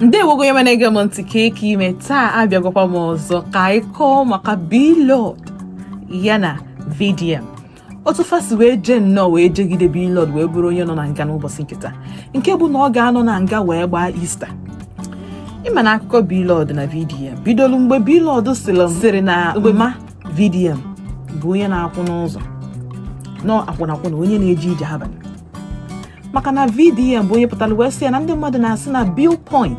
ndewo gị onye ọma na-ege m ntị kee ka ị mee taa abịagokwa m ọzọ ka anyị kọọ maka Blord ya na VDM otu fa si wee jee nnọọ wee jegide Blord wee bụrụ onye nọ na nga n'ụbọchị nke taa nke bụ na ọ ga-anọ na nga wee gbaa Easter ị ma na akụkọ Blord na VDM bidolu mgbe Blord sịrị na mma VDM bụ onye na-akwụ n'ụzọ na ọ akwụnakwụna onye na-eje ije abalị maka na VDM bụ onye pụtara wee sị ya na ndị mmadụ na-asị na bill point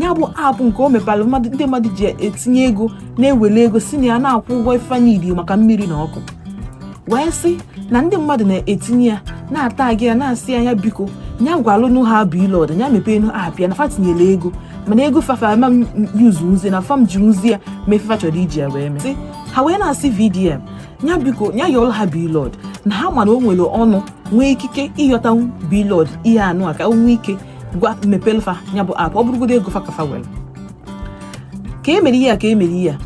ya bụ app nke o mepere ndị mmadụ ji etinye ego na-ewere ego si na ya na-akwụ ụgwọ ife niile maka mmiri na ọkụ wee sị na ndị mmadụ na-etinye ya na-atag ya na-asị ya ya biko ya gwalụnụ ha Blord ya mepeenụ app ya na fa tinyere ego mana ego fa fa ama use nzi na fa ama ji nzi ya mee ife fa chọrọ iji ya wee mee ha wee na-asị VDM ya biko ya yọọlụ ha Blord na ha mana o nwere ọnụ nwee ikike ịgwatanwu Blord ihe ọ nụ a ka nwee ike gwa mepelụ fa ya bụ app ọ bụrụgodu ego fa ka fa were ka e mere ihe a ka e mere ihe a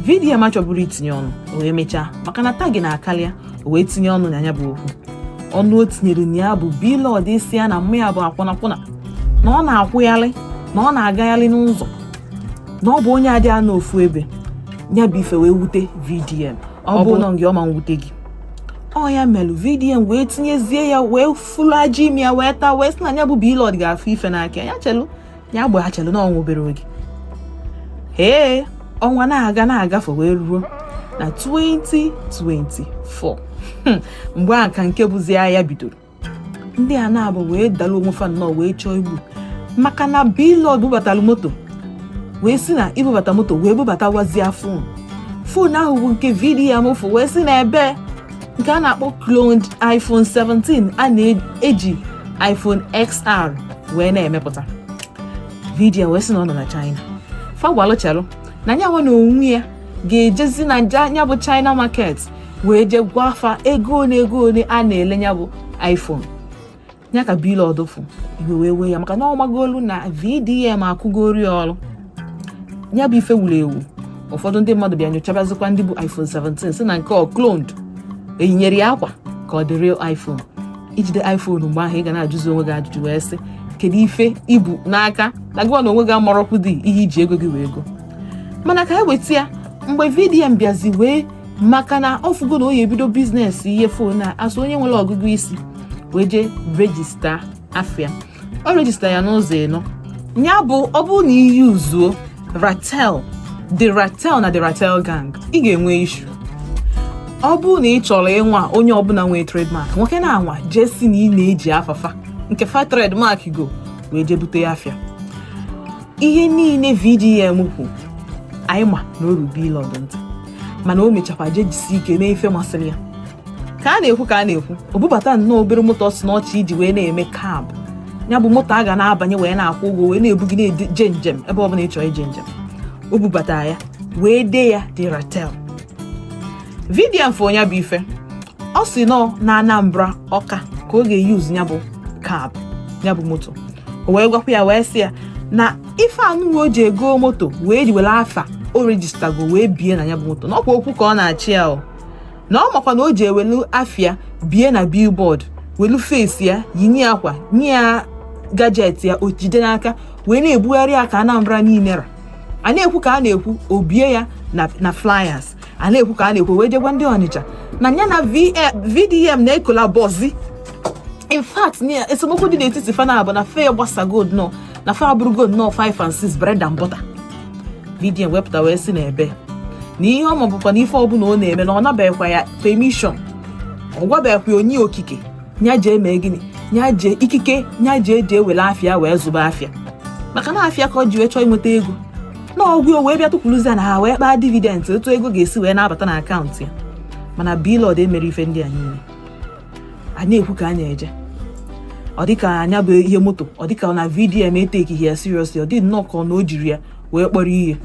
VDM achọburọ itinye ọnụ o wee mechaa maka na tagging akarịa o wee tinye ọnụ na ya bụ okwu ọnụ o tinyere na ya bụ Blord asị ya na mma ya bụ akwụnakwụna na ọ na-akwụgharị na ọ na-agagharị n'ụzọ na ọ bụ onye adị anọ ofu ebe ya bụ ife wee wute VDM ọ bụ na gị ọ ma wute gị ọ ya melụ VDM wee tinyezie ya wee fụlụ aja imi ya wee taa wee sị na ya bụ Blord ga-afụ ife n'aka ya chelụ ya gba chelụ na o nwe obere oge ee ọnwa na-aga na-agafe wee ruo na 2024 hmm, mgbe a ka nke bụzi aya bidoro ndị a naabọ wee dalụ onwe fa nnọọ wee chọọ igbu maka na Blord bubatara moto wee si na ibubata moto wee bubatawazia phone phone ahụ bụ nke VDM fụ wee si na ebe nke a na-akpọ cloned iphone 17 a na-eji iphone xr wee na-emepụta VDM wee si na ọ nọ na china fa gwalụ cherụ na nyanwa na onwe ya ga-ejezi na ya bụ china market wee jee gwa fa ego one ego one a na-ele ya bụ iPhone ya ka Blord fụ iwe wee wee ya maka na ọ magolu na VDM akwụgori ọrụ ya bụ ife wuru ewu ụfọdụ ndị mmadụ bịa nyochabazikwa ndị bụ iPhone 17 si na nke ọ cloned e yinyere ya akwa ka ọ dị real iPhone i jide iPhone mgbe ahụ ị ga na-ajụzi onwe gị ajụjụ wee sị kedu ife i bu n'aka na gịwa na onwe gị amarọkwa ụdị ihe i ji ego gị wee go mana ka e weta ya mgbe VDM bịazi wee maka na ọ fụgo na onye ebido biznes ihe fon a asụ onye nwere ọgụgụ isi wee jee rejista afa ya ọ rejista ya n'ụzọ ịnọ ya bụ ọ bụrụ na i yuzuo ratel the ratel na the ratel gang ị ga-enwe ishu ọ bụrụ na ị chọrọ ịnwa onye ọbụla nwee trademark nwee ike na-anwa jee si na ị na-eji afa fa nke fa trademark go wee jee bute ya afịa ihe niile VDM kwu anyị ma na o ru blord ntị mana o mechakwa jee jisi ike na ife masịrị ya ka a na-ekwu ka a na-ekwu o bubata nnọọ obere moto ọsụ na ọchị iji wee na-eme kab ya bụ moto a ga na-abanye wee na-akwụ ụgwọ wee na-ebu gị na-eje njem ebe ọbụla ị chọọ ije njem o bubata ya wee dee ya the ratel vdm fụ nya bụ ife ọ sị nọ na anambra ọka ka ọ ga-eyuz ya bụ kab ya bụ moto o wee gwakwa ya wee sị ya na ife a nụwa o ji ego moto wee jee were afa o rejistago wee bie na ya bụ moto na ọkwa okwu ka ọ na-achọ ya o na ọ makwa na o ji ewelu afa ya bie na billboard welu fesi ya yinye ya akwa nye ya gajet ya o jide n'aka wee na-ebugharị ya ka anambra niile ra a na-ekwu ka a na-ekwu o bie ya na na flyers a na-ekwu ka a na-ekwu wee jegwa ndị ọnịcha na ya na vdm na-ekolabọzi in fact na esemokwu dị n'etiti fa naabọ na fe gbasago nnọọ na fa abụrụgo nnọọ 5 and 6 bread and butter vdm wee pụta wee sị n'ebe na ihe ọ mabụkwa na ife ọbụla ọ na-eme na ọ nyebeghịkwa ya permission ọ gwabeghịkwa onye ikike nya jee mee gịnị nya jee ikike nya jee jee were afa ya wee zụba afịa maka na afa ya ka o ji wee chọọ inweta ego n'ọgwụ o wee bịa tụkwuruzie na ha wee kpaa dividend otu ego ga-esi wee na-abata na akaụntụ ya mana blord emere ife ndị a niile a na-ekwu ka a na-eje ọ dịka nya bụ ihe moto ọ dịka na vdm etekighị ya seriously ọ dị nnọọ ka ọ na o jirọ ya wee kpọrọ ihe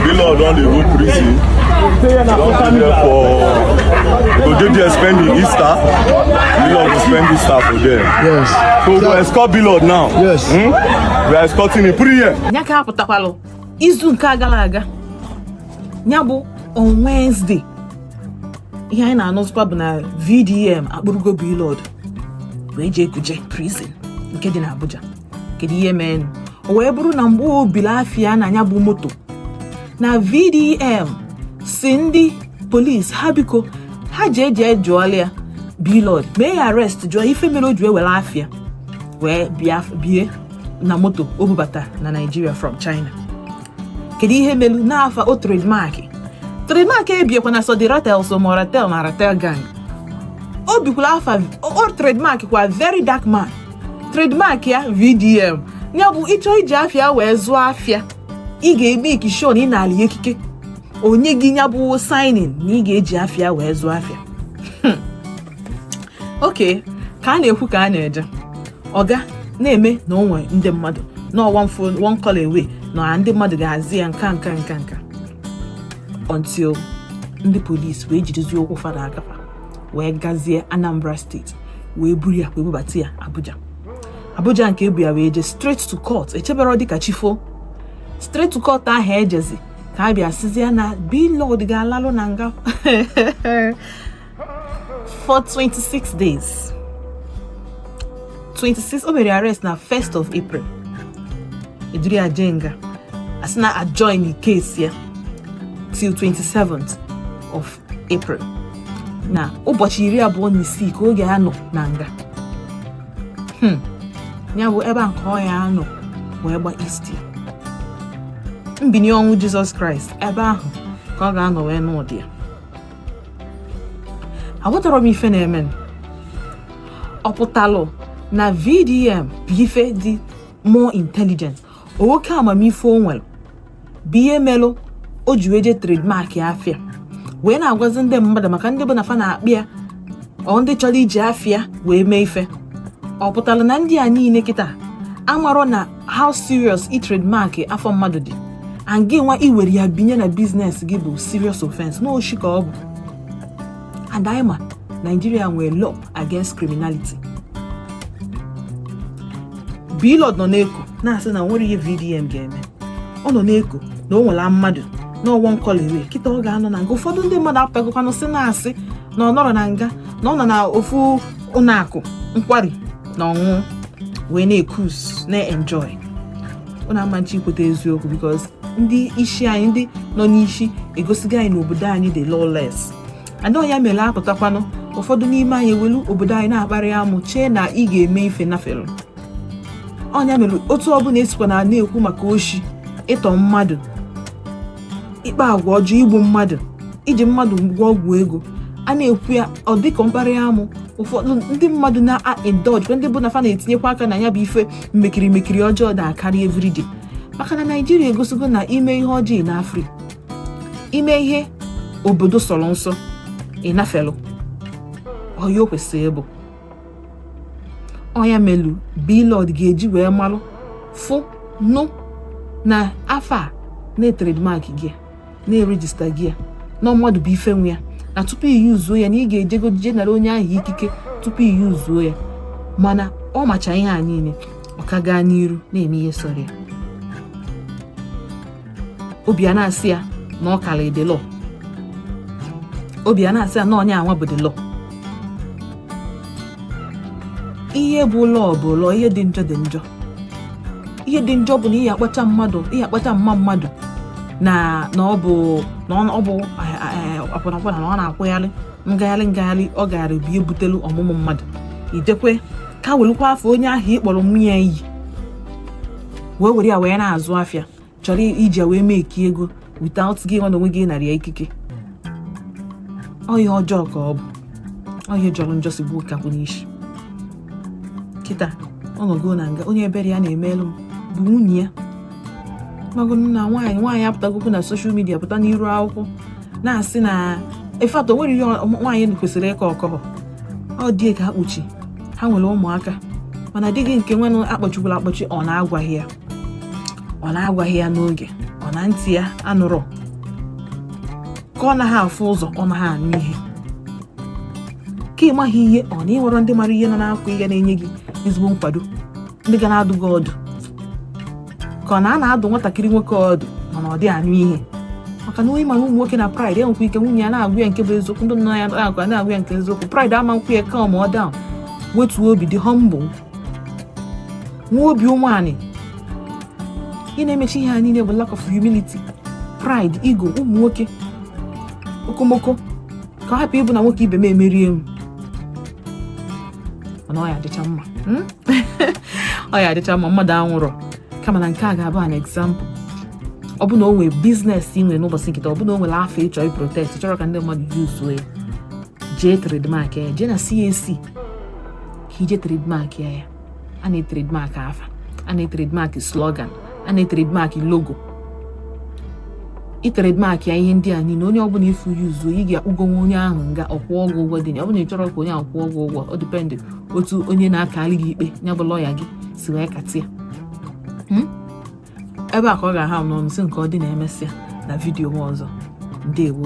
Blord don dey go prison don dey for go dey there spend the Easter Blord go spend Easter for there Yes. so we go escort Blord now Yes. Hmm? we are escorting him put him here. ya ka apụtakwalụ izu nke a gara aga ya bụ on Wednesday ihe anyị na-anụzikwa bụ na VDM akpụrụgo Blord wee jee kuje prison nke dị n'Abuja kedu ihe mee o wee bụrụ na mgbe o bili afa ya na nya bụ moto na VDM sị ndị polisi ha biko ha jee jee jụọla ya Blord mee ya arrest jụọ ife mere o ji ewere afa ya wee bịa bie na moto o bubata na Naịjirịa from China kedu ihe melu n'afa o trademark trademark ebiekwa na sọ the ratel so ma ratel na ratel gang o bikwala afa o trademark kwa very dark man trademarkịa vdm ya bụ ị chọọ iji afa ya wee zụọ afịa ị ga-emake sure na ị nalị ikike o nye gị ya bụ signing na ị ga-eji afa ya wee zụọ afịa okay ka a na-ekwu ka a na-eje ọ ka na-eme na o nwe ndị mmadụ na one phone one call away na ndị mmadụ ga-azi ya nka nka nka nka until ndị polisi wee jirizie ụkwụ fa da agafa wee gazie Anambra steeti wee buru ya wee bubata ya Abuja Abuja nke e bu ya wee je straight to court echebere dịka chi fo straight to court ahụ ejezi ka a bịa sizie na BLord ga-alalụ na nga for 26 days 26 e mere arrest na 1st of April e duru ya jee nga a sị na adjourn the case ya till 27th of April na ụbọchị iri abụọ na isii ka ọ ga-anọ na nga hmm. ya bụ ebe ahụ ka ọ ya-anọ wee gba Easter mbini ọnwụ Jizọs Kraịst ebe ahụ ka ọ ga-anọ wee n'ụdị ya aghọtarọ m ife na-eme ọ pụtalụ na VDM bụ ife dị more intelligent oke amamife o nwere bụ ihe melụ o ji wee jee trademarkịa afa ya wee na-agwazi ndị mmadụ maka ndị bụ na fa na-acopy ya or ndị chọrọ iji afa ya wee mee ife ọ pụtara na ndị a niile kịta amarọ na how serious i trademark afa mmadụ dị and gị nwa iwere ya binye na business gị bụ serious offense na oshi ka ọ bụ and anyị ma Nigeria nwere law against criminality BLord nọ na-eko na-asị na o nwerọ ihe VDM ga-eme ọ nọ na-eko na o nwere mmadụ na one call away kịta ọ ga-anọ na nga ụfọdụ ndị mmadụ apụtagokwanụ sị na-asị na ọ nọrọ na nga na ọ nọ na ofu ụlọ akụ nkwari na ọṅụṅụ wee na-ecruise na-enjoy ụnụ ama na-achọ ikweta eziokwu because ndị isi anyị ndị nọ n'isi egosigo anyị na obodo anyị dị lawless and ọ nya mere a pụtakwanụ ụfọdụ n'ime anyị ewelu obodo anyị na-akparị amụ chee na ị ga-eme ife naa free ọ nya mere otu ọbụla e sikwa na na-ekwu maka oshi ịtọ mmadụ ịkpa agwa ọjọọ igbu mmadụ iji mmadụ gwọ ọgwụ ego a na-ekwu ya ọ dịka mkparị amụ ụfọdụ ndị mmadụ na-indulgekwa ndị bụ na fa na-etinyekwa aka na ya bụ ife mee ka ihe mee ka ihe ọjọọ na-akarị everyday maka na naijiria egosigo na i mee ihe ọjọọ ị naa free i mee ihe obodo sọrọ nsọ ị naa free ọ ya o kwesịrị ịbụ ọ ya melu Blord ga-eji wee malụ fụ nụ na afa a na e tredmakgo ya na e rejistago ya na mmadụ bụ ife nwe ya na tupu iyuzuo ya na ị ga-ejego je nara onye ahụ ikike tupu iyuzuo ya mana ọ macha ihe a niile ọ ka gaa n'iru na-eme ihe sọrọ ya ọ bịa na-asị ya na ọ karị the law ọ bịa na-asị ya na onye anwa bụ the law ihe bụ law bụ law ihe dị njọ dị njọ ihe dị njọ bụ na ị ya akpọcha mmadụ ị ya akpọcha mama mmadụ na na ọ bụ na ọ bụ akwụnakwụna na ọ na-akwụgharị ngagharị ngagharị ọ gara bụ ihe butelu ọmụmụ mmadụ idekwe ka welukwa afa onye ahụ ị kpọrọ nne ya iyi wee were ya wee na-azụ afịa chọrọ iji ya wee mekie ego without gị nwa na onwe gị narị ya ikike ọ ihe ọjọọ ka ọ bụ ọ ihe jọrọ njọ si gbuo kapụ n'isi kịta ọ nọgo na nga onye ebere ya na-emelụ m bụ nwunye ya mago na nwaanyị nwaanyị apụtagokwu na soshal midia pụta n'iru akwụkwọ na-asị na in fact o nwerọ ihe nwaanyị kwesịrị ịkọ ọ kọhọ ọ di ya ka akpọchi ha nwere ụmụaka mana di gị nke nwanụ akpọchikwula akpọchi ọ na agwaghị ya ọ na agwaghị ya n'oge ọ na ntị ya anụrọ ka ọ naghị afụ ụzọ ọ naghị anụ ihe ka ị maghị ihe ọ na i nwerọ ndị mara ihe nọ n'akụkụ gị ga na-enye gị ezigbo nkwado ndị ga na-adụ gị ọdụ ka ọ na a na-adụ nwatakịrị nwoke ọdụ mana ọ dị anụ ihe maka na onye mara ụmụ nwoke na praịd enwekwa ike nwunye ya na-agwa ya nke bụ eziokwu ndị nna ya na-agwa ya na-agwa ya nke eziokwu praịd ama nkwe ya calmụọ down wetuo obi dị humble nwee obi umeanị ihe na-emesi ihe a niile bụ lack of humility pride ego ụmụ nwoke okomoko ka ọ hapụ ịbụ na nwoke ibe m emerie m mana ọ ya adịcha mma hmm? ọ ya adịcha mma mmadụ anwụrọ kama na nke a ga-abụ an example ọ bụ na o nwere biznes ị nwere n'ụbọchị nke taa ọ bụ na o nwere afa ị chọ iprotekt chọrọ ka ndị mmadụ yuzuo ya jee tredmaka ya jee na CAC ka i je tredmaka ya a na-etredmak afa a na-etredmak slogan a na-etredmak logo i tredmaka ihe ndị a niile onye ọbụla ị fụ yuzu ị ga-akpụganwu onye ahụ nga ọ kwụọ gị ụgwọ dị ya ọ bụ na ị chọrọ ka onye ahụ kwụọ gị ụgwọ ọ dịpendị otu onye na-akarị gị ikpe ya bụ lọya gị si wee kata ya hmm? ebe a ka ọ ga-aha n'ọnụ si nke ọ dị na-emesịa na vidiyo m ọzọ ndewo